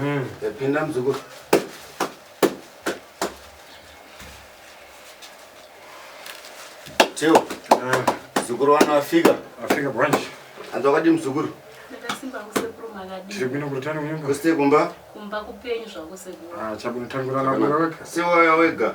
Mm, yapinda mzukuru. Tio. Mm. Mzukuru wana wafika. Wafika branch. Anzi wakadi mzukuru. Ndakasimba kusekuru makadi. Tiri kuno kurutano kunyumba. Kusite kumba. Kumba kupenyu zvako sekuru. Ah, chabu nitangura na wega. Sewa wega.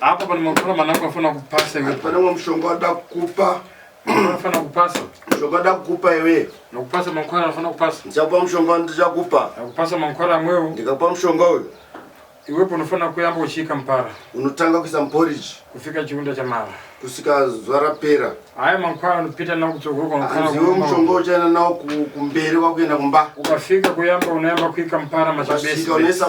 Apa pane makora manangu afana kupasa iwe. Pane umwe mushonga wada kukupa. Afana kupasa. Mushonga wada kukupa iwe. Nakupasa makora afana kupasa. Ndichakupa mushonga ndichakupa. Nakupasa makora amwewo. Ndikakupa mushonga uyu. Iwe unofanira kuyamba uchiika mupara. Unotanga kuisa muporiji. Kufika chiunda chamara. Kusika zuva rapera. Haya mankwara anopita nawo kutsogoro kwankwara. Hanzi iwe mushonga uchaenda nawo kumberi kwakuenda kumba. Ukafika kuyamba unoyamba kuika mupara machabese. Ukasvika unoisa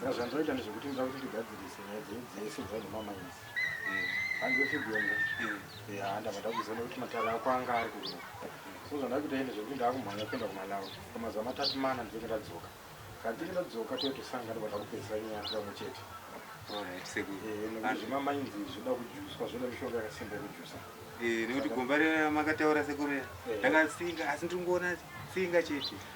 Saka zvandoita ndezvekuti ndoda kuti tigadzirise nyaya dzenyu dzese dzava nemamines handiwe figuemka ya ndabva ndakuziva nekuti matare ako anga ari kuno so zvandaa kuita ine zvekuti ndaakumhanya kuenda kumalawi kwamazuva matatu mana ndinenge ndadzoka kana ndinenge ndadzoka toye tosanga ndobva ndakupedzisa nyaya pamwe chete nekuti zvemamines zvoda kujuswa zvoda mishonga yakasimba yekujusa nekuti gomba remakataura sekuru ndakatsinga asi ndiri kungoona tsinga chete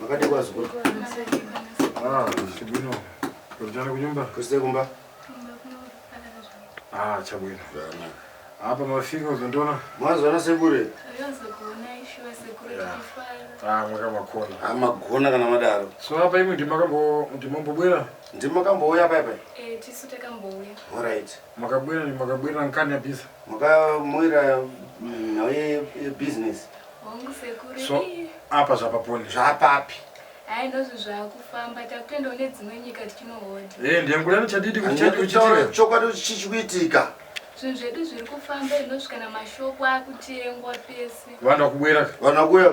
Makati kwa zukuru. Ah, chibwino. Kuchana kunyumba. Kusite kumba. Ah, chabwino. Hapa mafika uzondiona. Mwanzo ana sekure. Ayonzo kuona ishuwa sekure chifara. Ah, mwaka makona. Ah, magona kana madaro. So hapa imwe ndimakambo ndimakambo bwera. Ndimakambo uya hapa hapa. Eh, tisu takambo uya. All right. Makabwira makabwira nkani ya biza. Makamwira mm, nhau ye ye business. Hongu sekuru. So ii. apa zvapaponi zvapapi. Hai ndozvo zvakufamba takutoendawo nedzimwe nyika tichinohodha. Eh ndiyangurai chadidi kuti chadidi kuti Taura chitire. chokwadi chichikuitika. Zvinhu zvedu zviri kufamba inosvika namashoko akutengwa pese. Vanhu vakubwira ka. Vanhu vakuya.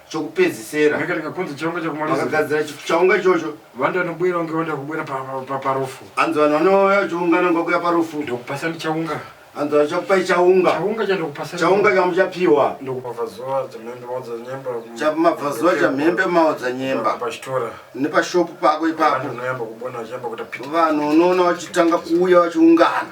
chokupedzisera Rega rega kunzi chirongwa chekumaliza. vakagadzira chi- chaunga ichocho Vanhu vanobwira vange vanda kubwira pa- pa- pa- parufu. hanzi vanhu vanouya vachiungana ngokuya parufu Ndokupasa ndichaunga. hanzi vachakupai chaunga Chaunga chandokupasa. chaunga chamuchapiwa Ndokupa zuva chamhembe maudza nyemba. chamabvazuva chamhembe maodza nyemba Pachitora. nepashopu pako Vanhu ipapo vanoyamba kubona vachiyamba kuita piti. vanhu unoona vachitanga kuuya vachiungana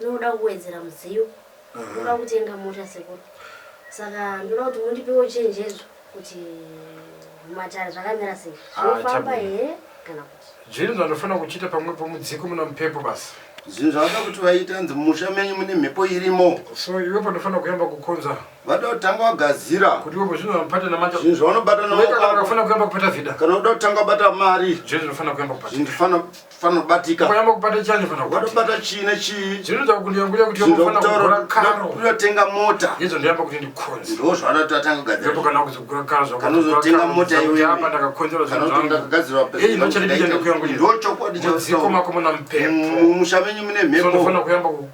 Ndinoda kuwedzera mudziyo. Ndoda kutenga mota sekuru. Saka ndoda kuti mundipewo chenjedzo kuti matare zvakamira sei. Ah, Zvinofamba chabwino. here kana kuti? Zvinhu zvandofana kuchita pamwe pomudziko muna mupepo basi. zvinhu zvavada kuti vaita hanzi mumusha menyu mune mhepo irimo So iwe pandofana kuyamba kukonza vada kutanga wagadzira kuti iwe zvinhu vamupata namanja. zvinhu zvaunobata Weka kana namaoko wakafana kuyamba kupata vida. kana uda kutanga wabata mari Zvinhu zvinofana kuyamba kupata. zvinhu fana fanobatika mayamba kubata chani fana wadobata chii nechii zvinoita kuti yanguya kuti yamafana kugura karo unotenga mota izvo ndoyamba kuti ndikhonzi ndo zvaanoti atanga kugadzira ndipo kana kuzogura karo zvakanozotenga mota iwe apa ndakakhonzera zvinhu zvangu kana kugadzira pesa iyi ndochati ndichende kuyangu ndo chokwadi chaziko mako muna mpepo mumusha menyu mune mhepo ndofana kuyamba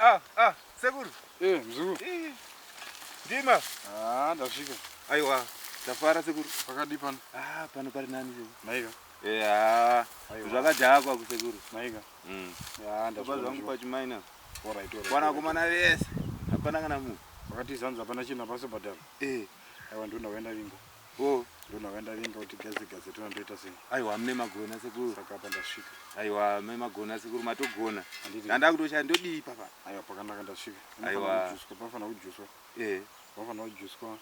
Ah, ah, sekuru. Eh, mzukuru. Eh, ndima. Ah, ndasvika. Aiwa, ndafara sekuru. Pakadi pano. Ah, pano pari nani sekuru. Maika. Eh, ah. Zvakadhakwa kusekuru. Maika. Mm. Ya, ndafara. Baba zvangu pachimaina. Ora itora. Kwana kumana vese. Hapana kana munhu. Wakati zanza hapana chinhu hapasi bhadhara. Eh. Aiwa ndonda kuenda vingo. Oh, ndona vandavinga kuti gaze gaze tona ndoita sei? Aiwa mne magona sekuru. Saka apa ndasvika. Aiwa mne magona sekuru matogona. Anditi. Ndanda kutoshaya ndodii papa? Aiwa pakanaka ndasvika. Aiwa. Kujuswa pafana kujuswa. Eh. Pafana kujuswa.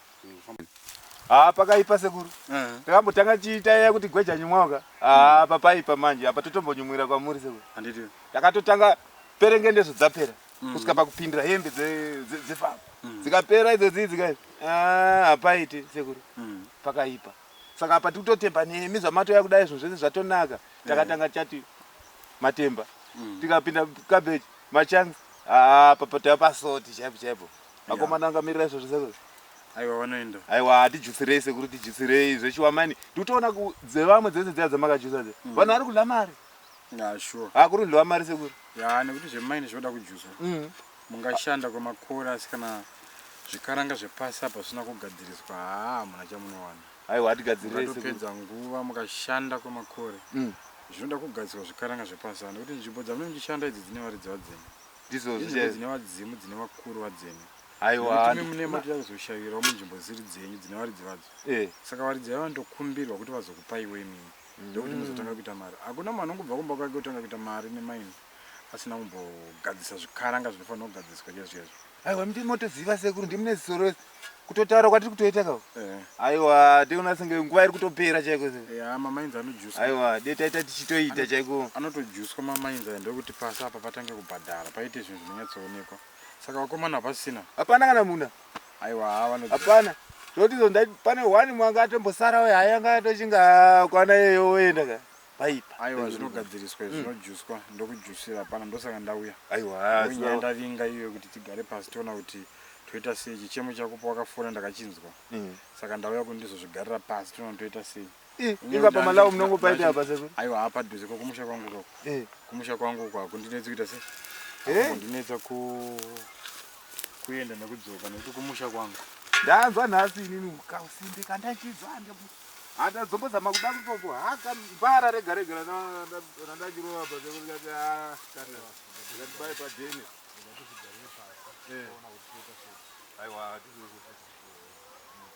Ah, pakaipa sekuru. Uh eh. -huh. Takambotanga chiita ya kuti gweja nyumwaka. Ah, hmm. papaipa manje. Apa totombonyumwira kwamuri sekuru. Anditi. Takatotanga perengende zvodzapera. mm. kusvika pakupindira hembe dzefamba mm. dzikapera idzo dzii dzika ah, hapaiti sekuru mm. pakaipa saka apa tikutotemba nemi zvamatouya kudai zvinhu zvese zvatonaka eh. takatanga chati matemba mm. tikapinda cabbage machangi ah, apa tava pasoti chaipo chaipo vakomana yeah. angamirira izvo zvese zvose aiwa vanoenda aiwa hatijutsirei sekuru tijutsirei zvechiwamani tikutoona dzevamwe dzese dziya dzamakajusa dze mm. vanhu vari kudla mari Yeah, sure. Ah, kuri ndlova mari sekuru. Yeah, nekuti zvemaini zvinoda kujuzwa. Mm. Mungashanda kwemakore asi kana zvikaranga zvepasi apa zvisina kugadziriswa haa hamuna chamunowana. Aiwa hatigadzirire sekuru. Mukatopedza nguva mukashanda kwemakore. Mm. Zvinoda kugadzirwa zvikaranga zvepasi apa nekuti nzvimbo dzamunenge muchishanda idzi dzine varidzi vadzeni. Ndizvo zviya. Dzine vadzimu dzine vakuru vadzeni. Aiwa. Kuti mune mati yakuzoshavirawo munzvimbo dziri dzenyu dzine varidzi vadzo. Eh. Saka varidzi vavo ndokumbirwa kuti vazokupaiwo imimi. ndokuti mm. muzotanga kuita mari hakuna munhu anongobva kumba kwake kutanga kuita mari nemaini asina kumbogadzisa zvikaranga zvinofanira kugadziswa chezvo chezvo aiwa mti motoziva sekuru ndimune zisoro wese kutotaura kwatiri kutoita kao eh. aiwa tiona senge nguva iri kutopera chaiko mamainzi anojusa aiwa de taita tichitoita chaiko anotojuswa mamainzi ayo ndokuti pasi apa patange kubhadhara paite zvinhu zvinonyatsoonekwa saka vakomana hapasina hapana kana muna Aiwa hawa no. Hapana. Zvoti zo ndai pane one mwanga atombosara we hayanga atochinga ah, kwana yeyo oenda ka. Paipa. Aiwa zvinogadziriswa izvo zvinojuswa mm. ndokujusira hapana ndosaka ndauya. Aiwa. Nyaya ndavinga iyo kuti tigare pasi tiona kuti toita sei chichemo chako pawakafona ndakachinzwa. Mm. Saka ndauya kundizozvigarira pasi tiona toita sei. inga pamalawo munongo paita apa seko aiwa hapa dhuze ko kumusha kwangu ko eh. kumusha kwangu kwa kundinetsa kuita se eh? kundinetsa ku kuenda nekudzoka nekuti kumusha kwangu ndanzwa nhasi inini kasimbe kandachizwa handazombozama kuda kutoku haka mbara rega rega randachirova pa seko ndikati ah, kana ndatibaye padhene eh. aiwa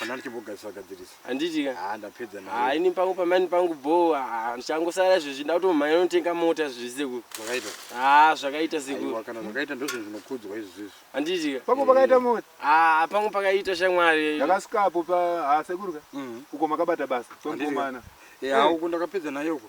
Hapana ndichimbogadziriswa gadzirisa. Handiti ka? Ah ndapedza nayo. Ah ini pangu pamani pangu bho ah ndichangosara izvezvi ndautomhanya unotenga mota zvezvi sekuru. Zvakaita. Ah zvakaita sekuru. Aiwa kana zvakaita ndozvo zvinokudzwa izvi zvezvi. Handiti ka? Pangu pakaita mota. Ah pangu pakaita shamwari. Ndakasikapo pa ah sekuru ka. Mhm. Uko makabata basa. Handiti ka? Tonkomana. Eh ah uko ndakapedza nayo uko.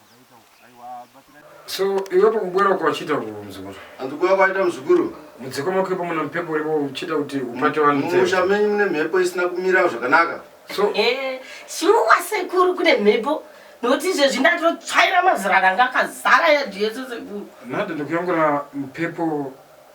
So iwe pakubwera uko wachiita muzukuru? Andikuya kwaita muzukuru. Mudziko mako ipo muna mhepo uripo uchiita kuti upate vanhu. Mumusha menyu mune mhepo isina kumira zvakanaka. So eh shuwa sekuru kune mhepo nokuti izvezvi ndatotsvaira mazirana ngakazara yadhi yese sekuru. Nada ndikuyangura mhepo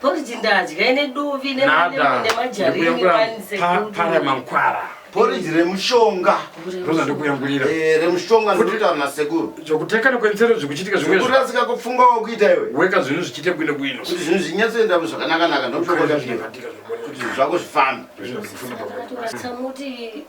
Porridge ndadya ine dovi nemajarinemajarinemanisekupara mankwara porridge remushonga ndoza ndokuyangurira eh, remushonga ndokutaura nasekuru zvokutekana kwenzero zvikuchitika zvimwesekuru asika kupfunga wakuita iwe weka zvinhu zvichiite bwino bwino kuti zvinhu zvinyatsoendamo zvakanakanaka ndokuoakuti zvako zvifambe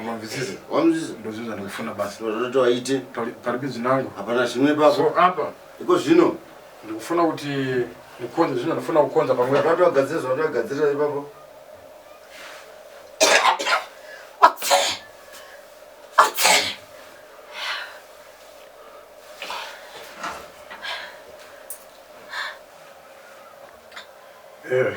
Unonzwisisa? Wanzwisisa? Ndozvinhu zvandikufuna basi. Ndozvandoti waite. Pari pari binzi nangu. Hapana zvimwe ipapo. So apa iko zvino ndikufuna kuti ndikonze zvinhu ndofuna kukonza pamwe. Ndakati wagadzira zvandoti wagadzira ipapo. Eh.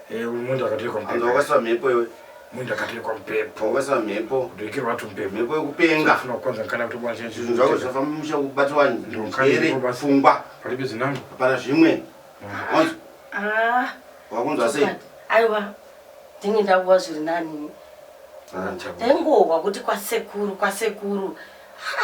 Eh, uyu munhu akatirwa hanzi mupepo. wakaiswa mhepo iwe Munhu akatirwa mupepo. wakaiswa mhepo Kudirikirwa tu mupepo. mhepo yekupenga Funa kwanza kana kuti bwana chenzi. zvinhu zvako zvinofamba mumusha kubata vanhu Ndokani njere ndipo basi. pfungwa Pari bizi nangu. hapana zvimwe wanzwa Ah, wakunzwa sei chokwadi. aiwa ndinge ndakuwa zviri nani Ah, ndaingohwa kuti kwasekuru kwasekuru Ha,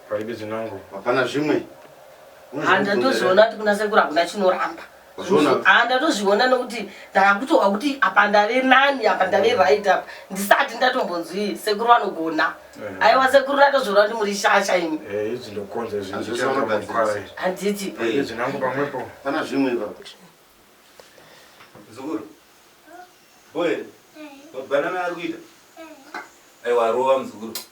Paibe zinangu. Hapana zvimwe. Handatozoona kuti kuna sekuru hakuna chinoramba. Ah, ndatozviona nokuti ndakutoa kuti apa ndave nani apa ndave right apa ndisati ndatombonzwi sekuru vanogona eh. aiwa sekuru ratozviona kuti muri shasha imi eh, handiti eh, pana zvimwe ipapo zukuru boe mabanana ari kuita aiwa rova muzukuru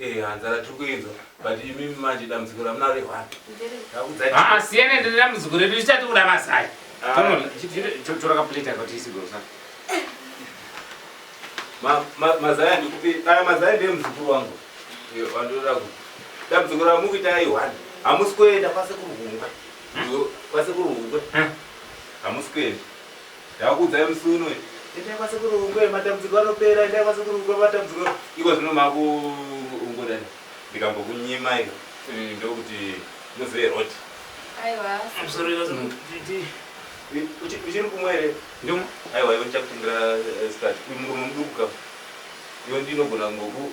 Eh hanzara tiri kuinzwa but imi manje dambudziko ramunaro ihwani. Ndakudzai. Ah siyana ndambudziko redu richati kuda masai. Ah. Tono tora ka plate akati isigosa. Ma ma mazaya ndikupi? Aya mazaya ndiye mzukuru wangu. Yo wandoda ku. Dambudziko ramukuita ihwani. Hamusi kuenda kwase kurugungwe. Yo kwase kurugungwe. Hamusi kuenda. Ndakuudzai musi uno endai kwasekuru Rungwe matambudziko anopera endai kwasekuru Rungwe matambudziko iko zvino makuungudani ndikambokunyimai mm, ndokuti muzive road aiwa uchiri kumwe here ndimo aiwa iwe ndichakutengera eh, start uyu murume muduku kama iwe ndinogona ngoku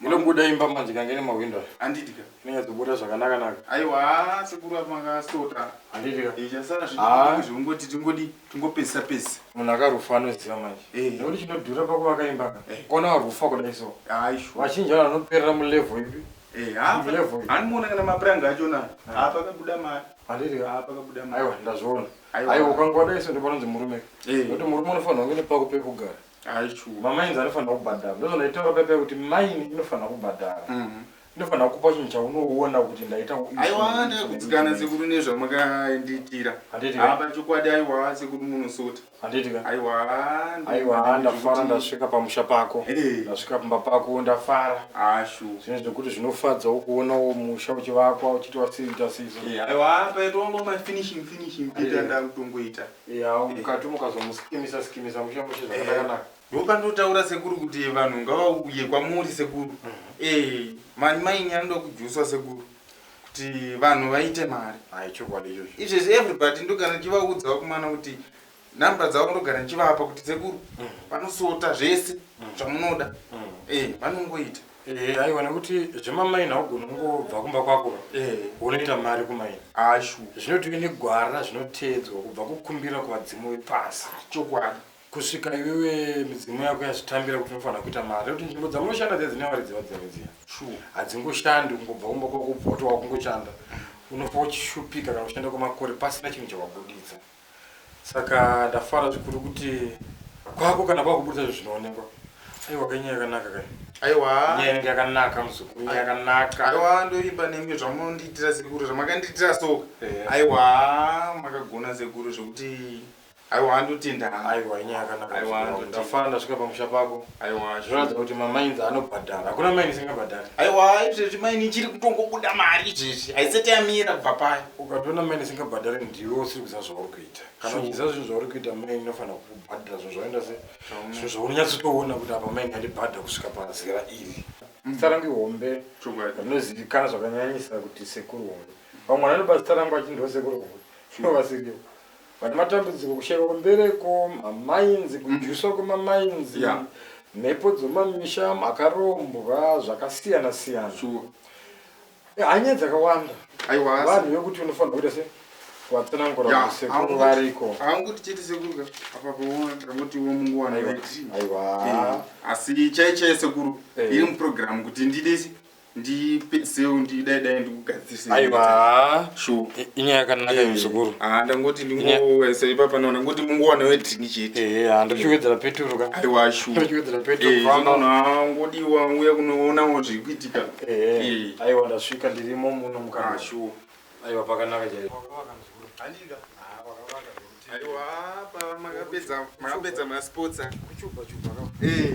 Munobuda imba manje kange ne mahwindo ayo. Handidi ka. Inenge dzobuda zvakanaka naka. Aiwa sekuru apa makasota. Handidi ka. Ichasara zvithu zvingoti tingodi tingopesa pesa. Munhu akarufa anoziva manje. Eh. Nekuti chinodhura pakuvaka imba ka. Eh. Kona warufa kudai so. Aisho. Vachinja vanhu vanoperera mu level ipi. Eh, ha. Mu level. Hanimuona kana mapuranga acho na. Ha pakabuda mari. Handidi ka. Ha pakabuda mari. Aiwa ndazviona. Aiwa ukangodai so ndipo nonzi murume. Eh. Nekuti murume unofanirwa kunge nepako pekugara. Hayi true. Mamainzi anofanira kubhadhara. Ndozvandaitaura paipa kuti maini inofanira kubhadhara. Mhm. Inofanira kupa chinhu chaunoona kuti ndaita u- aiwa ndakugutsikana sekuru nezvamakaendiitira Handiti ka? apa chokwadi aiwa sekuru munosota Handiti ka? aiwa Aiwa ndafara ndasvika pamusha pako. Eh. Ndasvika pamba pako ndafara. ashu Zvinhu zvekuti zvinofadzawo kuonawo musha uchivakwa uchiti wasiita sizo. aiwa paitongoma finishing finishing peter Eh. ndakutongoita Eya mukati mukazomusikimisa sikimisa mushe mushe zvakakanaka. Ndopanotaura sekuru kuti vanhu ngavauye kwamuri sekuru. Eh mani maini anoda kujuswa sekuru kuti vanhu vaite mari. Hayi chokwadi ichocho. Izvezvi everybody ndogara ndichivaudzawo kumwana kuti number dzavo ndogara ndichivapa kuti sekuru vanosota zvese zvamunoda. Eh vanongoita. Eh, aiwa nekuti zvemamaini haugoni kungobva kumba kwako eh. unoita mari kumaini ashu zvinotiwe negwara zvinoteedzwa kubva kukumbira kuvadzimu vepasi chokwadi kusvika iwewe midzimu yako yazvitambira kuti unofanira kuita mari nekuti nzvimbo dzamunoshanda dziya dzine varidzi vadzimwe dziya hadzingoshandi kungobva kumba kwako bvotowa kungoshanda unofa uchishupika kana kushanda kwemakore pasina chinhu chawabuditsa Saka ndafara zvikuru kuti kwako kana kwakuburitsa zvinhu zvinoonekwa. Aiwa kai nyaya yakanaka kai. Aiwa. Nyaya inenge yakanaka muzukuru, nyaya yakanaka. Aiwa ndoimba nemi zvamundiitira sekuru zvamakandiitira so. Yeah. Aiwa makagona sekuru zvekuti aiwa ndotenda. Aiwa nyaya yakanaka. Aiwa ndafara ndasvika pamusha pako. Aiwa zvinoratidza kuti mamains anobhadhara. Hakuna maini isingabhadhari. Aiwa izvezvi maini ichiri kutongobuda mari izvezvi. Haisati yamira kubva payo. Ukatoona maini isingabhadhari ndiwe usiri kuziva zvauri kuita. Kana uchiziva zvinhu zvauri kuita maini inofanira kubhadhara zvinhu zvaunoita se zvinhu zvaunonyatsotoona kuti apa maini yandibhadha kusvika pazera iri. Zita rangu ihombe rinozivikanwa zvakanyanyisa kuti sekuru hombe. Vamwe vanondibata zita rangu vachiti ndivo sekuru hombe. Ivo vasirivo. vane matambudziko kushaiwa kwembereko mamainzi mm. kudyuswa kwemamainzi yeah. mhepo dzomamisha makarombwa zvakasiyana siyana sure. Eh, hanyaya dzakawanda vanhu vekuti unofanira kuita se vatsanangura kusekuru variko haunguti chete sekuru apa paona takangotiwo munguwana aiwa eh, asi chaichaya sekuru eh. iri muprogramu kuti ndidesi ndipedziseu ndidai dai ndikugadzirisei aiwa haa shuwa i- inyaya yakanaka iyo muzukuru Ah, ndangoti ndingoisa ipapa naona ngoti mungowana wedrink chete ehe haa ndochiwedzera peturu ka aiwa shuwa ndochiwedzera peturu famba ngodiwa uya kunoonawo zviri kuitika ehe Eh. aiwa ndasvika ndirimo muno Ah, mukana shuwa aiwa pakanaka chaipo wakavaka muzukuru handika haa wakavaka zvekuti aiwa apa makapedza makapedza masports a kuchupa chupa ka Eh,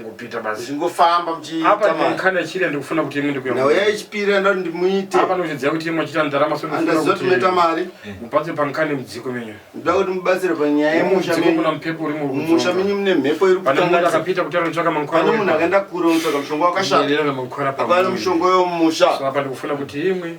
kupita basi zvingofamba muchiita mari kana chiri ndikufuna kuti imwe ndikuya nawo yaichipira ndo ndimuite apa ndochidziya kuti imwe chita ndarama so ndofuna kuti meta mari eh. mubatse pankani mudziko menyu ndoda kuti mubatsire panyaya yemusha menyu kuna mpepo uri mumusha menyu mune mhepo iri kutanga munhu akapita kuti anotsvaka mankwara pane munhu akaenda kure unotsvaka mushonga wakashata ndiyena mankwara pa pane mushonga wemusha so apa ndikufuna kuti imwe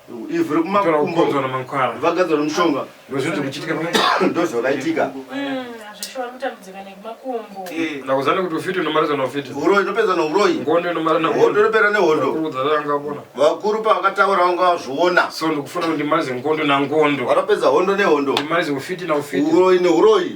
ivhu rekumakumbo vagadzwa nemushonga ndozvakaitika ndakuziva nekuti ufiti unomariza neufiti uroyi ndopedza neuroyi ngondo inomara nehondo inopera nehondo vakuru pavakataura vanga vazviona so ndikufuna kuti ndimarize ngondo nangondo vatopedza hondo nehondo ndimarize ufiti naufiti uroyi neuroyi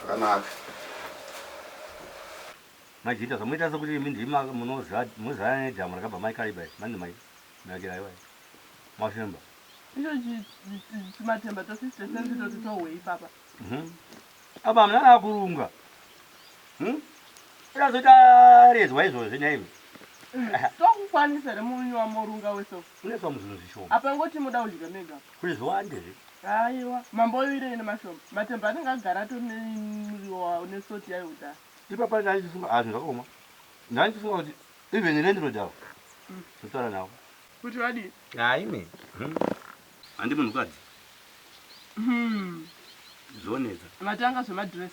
Zvakanaka. Mai Jinda zvamunoita sekuti imi ndima munoziva munozivana nedhamu rakabva mai Kariba iri mani mai Nakira aiwa Mafemba. Icho chi chimatemba to sisi tesenzi toti tohwe ipapa. Mhm. Apa hamuna kana kurunga. Mhm. Irazoita rezwa izvozvi nhaimi. Tokukwanisa here murume wamorunga weso. Kune some zvinhu zvishoma. Apa ingoti moda kudya mega apa. Kune zviwande izvi. Haiwa. Mambo oivirei nemashoma. Matemba anenge agara atori nemuriwo wawo nesalt yayo kudhara. Ipapa ndanga ndichifunga haa zvinhu zvakaoma. Ndanga ndichifunga kuti even landlord avo ndotaura navo. Kuti vadii? Haa imi. Handi munhukadzi. Zvonetsa. Matanga zvemadress.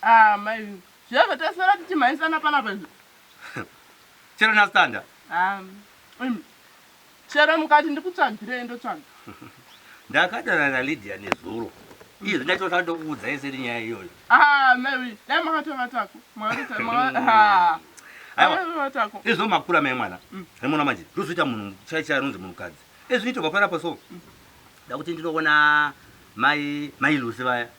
Haa mai vee zviya taswera tichimhanyisana panapa izvi chero nastanda um, chero mukati ndikutsvagirei ndotsvaga ndakadana nalydia nezuro izvi ndachota ndokuudzai seri nyaya iyoyo ah, mai vee dai makatovatako makatovatako izvo makura mai mwana mm. remona manje ndozoita munhu chaichai anonzi munhukadzi ezvinoitwa panapa so mm. dakuti ndinoona mai mai lusi vaya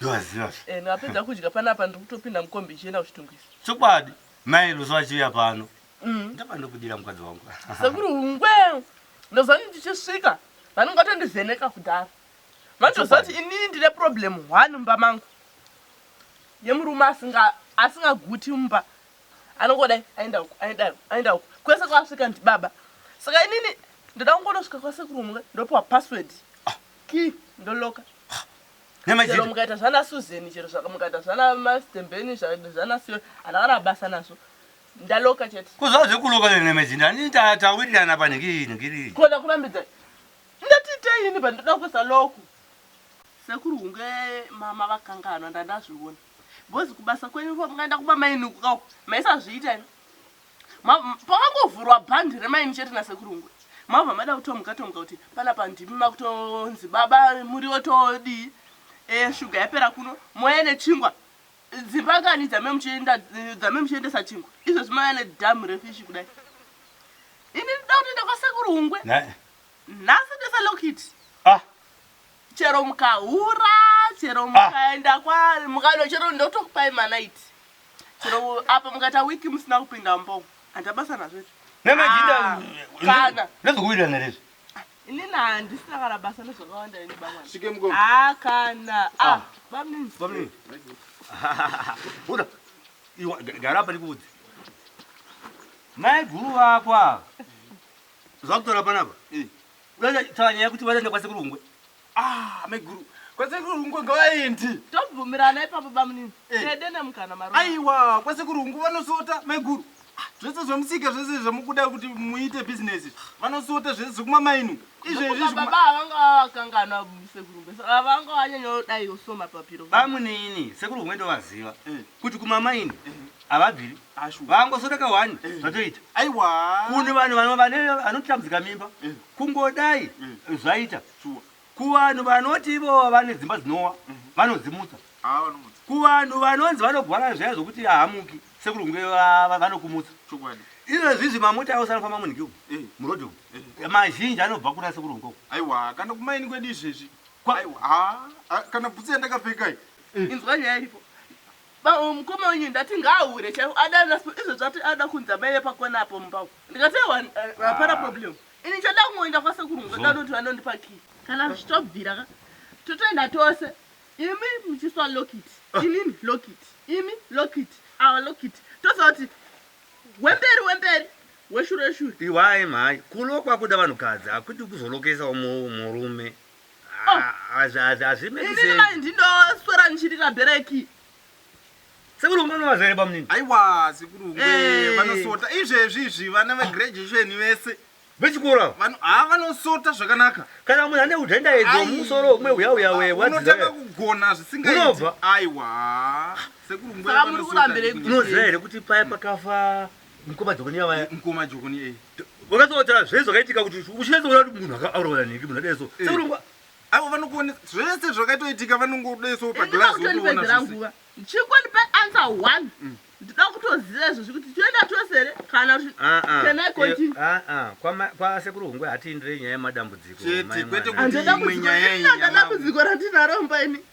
ndovaziva zve Eh, ndapedza kudya panapa ndiri kutopinda mukombi ichienda kuchitungwiza chokwadi mai luso vachiuya pano Mm. ndapa ndokudira mukadzi wangu sekuru hungwe ndozani ndichisvika vanenge vatondivheneka kudhara vandoziva kuti inini ndine problem one mumba mangu yemurume asinga- asingaguti mumba anongodai aenda uku aenda uku aenda uku kwese kwasvika ndibaba saka inini ndoda kungonosvika kwasekuru hungwe ndopiwa password key ndoloka Namajita. Chero mukaita zvana Susan chero zvaka mukaita zvana Mastembeni zvaka zvana Sio ana kana basa nazvo. Ndaloka chete. Kuzva zvekuloka ne namajita ani ta tawirirana pa nhingi nhingi. Kona kurambidza. Ndati ita ini pandoda kusa loku. Sekuru hunge mama vakanganwa ndandazviona. Bozi kubasa kwenyu ko mungaenda kuba mainuku kawo. Maisa zviita ini. Pakangovhurwa bhandi remaini chete nasekuru Ngwe mabva mada kutomuka tomuka kuti panapa ndimi makutonzi baba muriwo todii eh, shuga yapera kuno moya nechingwa dzimba kani dzame muchiendesa chingwa izvozvi maya nedhamu refishi kudai ini ndida kutienda kwasekuru Ngwe nhasi ndese lokiti ah. chero mukahura chero mukaenda kwa mukano chero ndotokupai manaiti chero apa mukaita wiki musina kupinda mbo handa basa nazvo izvo nemajinda Ah, kana. nezvekuwirirana rezvi inini handisina kana basa nezvakawanda ini bamwana Svike mugomo. ah kana ah bamnini Bamnini. Buda. Iwa gara apa ndikuudze. Mai guru vako ava. Zvakutora panapa. Unaenda taura nyaya kuti vanoenda kwa sekuru Rungwe. Ah, mai guru. Kwa sekuru Rungwe ngavaendi. Tobvumirana ipapo bamunini. Eh. Tede nemukana maro. Aiwa, kwa sekuru Rungwe vanosota mai guru. Ah, zvese zvemusika zvese zvamukuda kuti muite business. Vanosota zvese zvekuma mainu. Izvezvi zvekuma Baba havanga vakanganwa sekuru Rungwe. So havanga vanyanya kudai so mapapiro. Bamunini sekuru Rungwe ndovaziva Eh. kuti kumamaini havabviri. vangosodaka wani eh. zvatoita aiwa kune vanhu vanotambudzika mimba eh. kungodai eh. zvaita kuvanhu vanoti ivo vane dzimba dzinowa mhm. vanodzimutsa ah, kuvanhu vanonzi vanogwara zvaya zvokuti ahamuki sekurunge vanokumutsa izvo zvizvi mamota ayo sanofamba munhiki umu murodhi umu mazhinji anobva kuna sekurunge uku aiwa kana kumaini kwedu izvezvi ah, ah, kana bhutsi yandakapfekai inzwa nyaya iripo Bba uyu mukoma wenyu ndati ngaahure chaivo adana sbu izvezvi ati anoda kunzi amai vepakona apo mumba umu ndikati ewa hapana problem ini ndichada kungoenda kwasekuru muzoda unoti vanondipa key kana zvichitobvira ka totoenda tose imi muchiswa lockit inini lockit imi lockit awa lockit tozoti wemberi wemberi weshure shure Iwai mhai kulokwa kuda vanhukadzi hakuti kuzolokesa umwe murume. Inini mai ndindoswera ndichirira bhereki. Sekuru Ngwe unovaziva here bamunini? Aiwa sekuru Ngwe eh. vanosota izvezvi izvi vana vegraduation vese vechikoro ava vano ha vanosota zvakanaka kana munhu ane udenda edzo musoro umwe uya uya we what unotanga kugona zvisingaiti unobva aiwa sekuru ngwe saka muri kurambirei kunoziva here kuti paya pakafa Mkoma Jokoni ava eh? Mkoma Jokoni eh. Wakatsotaura zvese zvakaitika kuti uchinatsoona kuti munhu akaurawa nhingi munhu akadai so. Eh. Sekurongwa avo vanokuona zvese zvakaitoitika vanongoda so pa glass unoona nguva. Chikoni pe answer one. Mm. Ndida kutoziva izvo zvikuti toenda tose here kana kuti ah, ah. can I continue? Ah ah. Kwa kwa sekuru hungwe hatiindire nyaya yemadambudziko. Chete kwete kuti imwe nyaya iyi. Ndadambudziko ratinaro mba ini.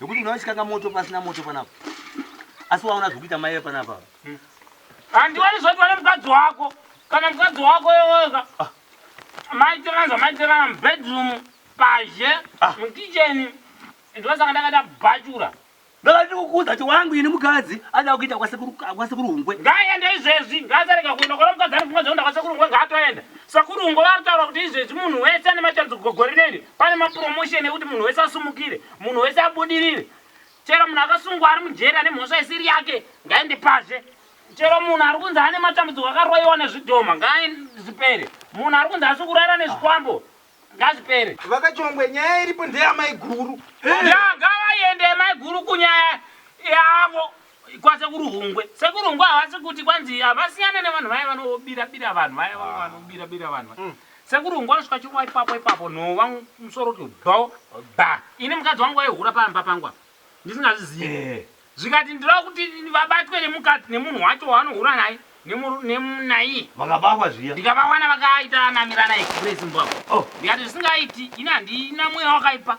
Nokuti unoda kuchikanga moto pasina moto panapa. Asi waona zviri kuita mai panapa. Hmm. Handiwani zvoti wane mukadzi wako. Kana mukadzi wako weweka. Ah. Maitirana zvamaitirana mubedroom, pazhe, ah. mukicheni. Ndosaka ndakada bhachura. Ndakada ndikukuudza kuti wangu ini mukadzi ada kuita kwasekuru kwasekuru hungwe. Ngaaenda izvezvi, ngaasarega kuenda kona mukadzi ari kumwe zvekuenda kwasekuru hungwe ngaatoenda. Sekuru hungwe vari kutaura kuti izvezvi munhu wese ane machance kugogori neni. Pane mapromotion ekuti munhu wese asumukire. Munhu wese abudirire. Chero munhu akasungwa ari mujeri ane mhosva isiri yake ngaende pazhe. Chero munhu ari kunzi ane matambudziko akaroiwa nezvidhoma ngazvipere. Munhu ari kunzi asi kurara nezvikwambo ngazvipere. Vakachongwe nyaya iripo ndeyamaiguru. Yaa ngavaende maiguru kunyaya yavo. kwasekuru Hungwe. Sekuru Hungwe havasi kuti kwanzi havasiyane nevanhu vaya vanobira bira vanhu vaya vaya vanobira bira vanhu vaya. Mm. Sekuru Hungwe anosvika chirova ipapo ipapo nhova musoro kuti bho bha. Ini mukadzi wangu waihura pamba pangu apa ndisingazvizivi. Eh. Zvikati ndinoda kuti vabatwe nemukadzi nemunhu wacho waanohura naye nemunaiye vakabahwa zviya ndikavawana vakaita namirana express mbwa oh. ndikati zvisingaiti ini handina mweya wakaipa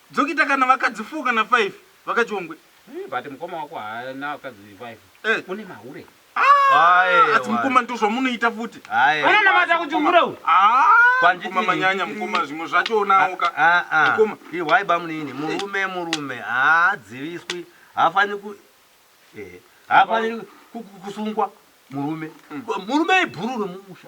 Dzokita kana vakadzi four kana five vakaChongwe. Hey, but mukoma wako haana vakadzi five. Eh. Une mahure. Aye, Asi mukoma wani. ndozvamunoita futi. Aye. Anonamata kuti hure uyu. Ah, Kwanditi- mukoma manyanya mukoma zvimwe zvachoonawo ka. Ah, ah. Mukoma. Ihwai bamunini, murume murume haadziviswi, haafaniri ku eh, haafaniri ku- ku- kusungwa murume. Murume ibhuru remumusha.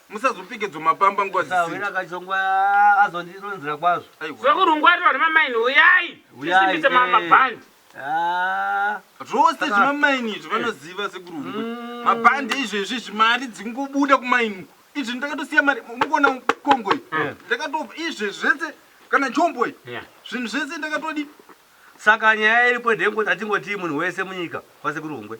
Musazopike dzomapamba nguva dzisina. Sahwira kachongwa azondironzera kwazvo. Aiwa. Zvekurungwarirwa nemamaini huyai tisimbise ma- mabhandi. Ah, Zvose Saka- zvemamaini izvi vanoziva sekuru Hungwe. Mm. Mabhandi izvezvi izvi mari dzingobuda kumaini uko. Izvi ndakatosiya mari mukuona kongo iyi. Ndakatopa izvezvi zvese kana chombo iyi. Yeah. Zvinhu zvese ndakatodi saka nyaya iripo ndeyekuti atingotii munhu wese munyika kwasekuru hungwe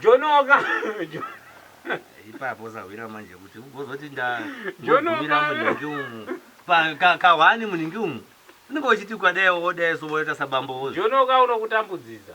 Jonoka ipapo sahwira manje kuti ugozoti ndagumira munhingi umu kahwani munhingi umu unenge uchiti ukadai wodai so woita sabambo wozi jonoka unokutambudzisa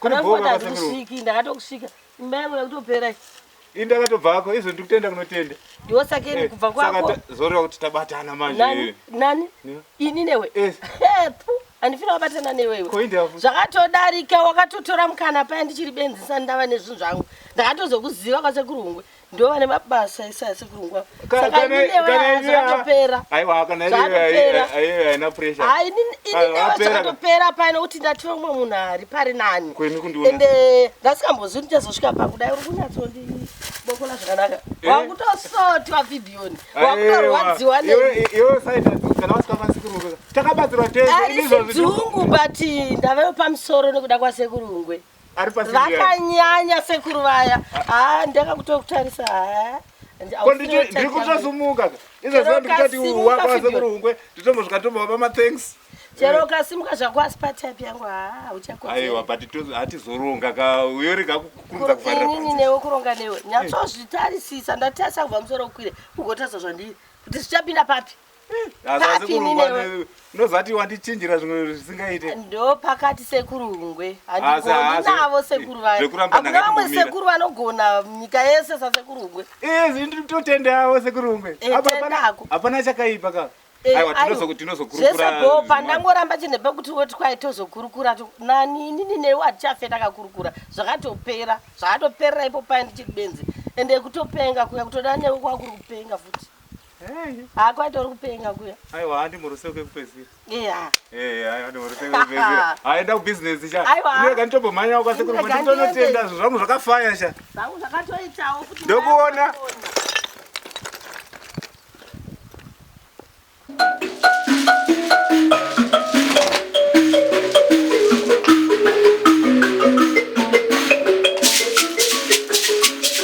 Kuri Hapana bhoo kuti vakatanga ro- hazikusviki ndakatokusvika imba yangu yakutopera Ini ndakatobva hako izvo ndiri kutenda kunotenda. ndiwo sakeni Eh, kubva saka kwako ta- zoreva kuti tabatana manje. nani nani Yeah. ini newe Yes. Eh, pfu, handifina wabatana newewe Ko india futi. zvakatodarika wakatotora mukana paya ndichiri benzi sani ndava nezvinhu zvangu ndakatozokuziva kwasekuru hungwe ndovane mabasa ese asi kurungwa saka inewazakatopera aiwa kana iye haina pressure hai inewazakatopera paine kuti ndati vamwe munhu ari pari nani ende ndasikambozii kuti chazosvika pakudai uri kunyatsoondibokola zvakanaka eh? wakutosoti wabhibhiyoni wakutorwadziwa neiwe saita kana wasikakwanisi kurungwa takabatsirwa tese izvozvidungu but ndave pamusoro nekuda kwasekurungwe vakanyanya sekuru vaya haa ndakakutokutarisa haa ndiri kutosumuka izvozondikutatiwakwasekurungwe nditombosvika tombova pamathanks chero eh. ukasimuka zvako asi patip yangu haa uchakoaiwa but hatizoronga ka uyori kakukurudza kuvarinini newe kuronga newe nyatsozvitarisisa ndatarisa kubva musoro ukwire ugotarisa zvandiri kuti zvichapinda papi ndozati wandichinjira zvimwe zvisingaite ndo pakati sekuru ngwe handigoni navo sekuru vaakuna vamwe sekuru vanogona nyika yese sasekuru ngwe nditotendeavo sekuru ngwe eh, hapana chakaipa ka eh, zvese bho pandangoramba chinhu pekuti woti kwai tozokurukura nani inini newe hatichafe takakurukura zvakatopera zvakatoperera ipo paye ndichiri benzi ende kutopenga kuya kutoda newe kwakuri kupenga futi Hakwati uri kupenga kuya. Aiwa handi muruse uke kupedzira. Yeah. Eh, yeah, handi muruse uke kupedzira. Aenda ku business cha. Aiwa. Uye kani tobo manya uka sekuru kuti tonotenda zvangu zvakafaya cha. Zvangu zvakatoitawo kuti. Ndokuona.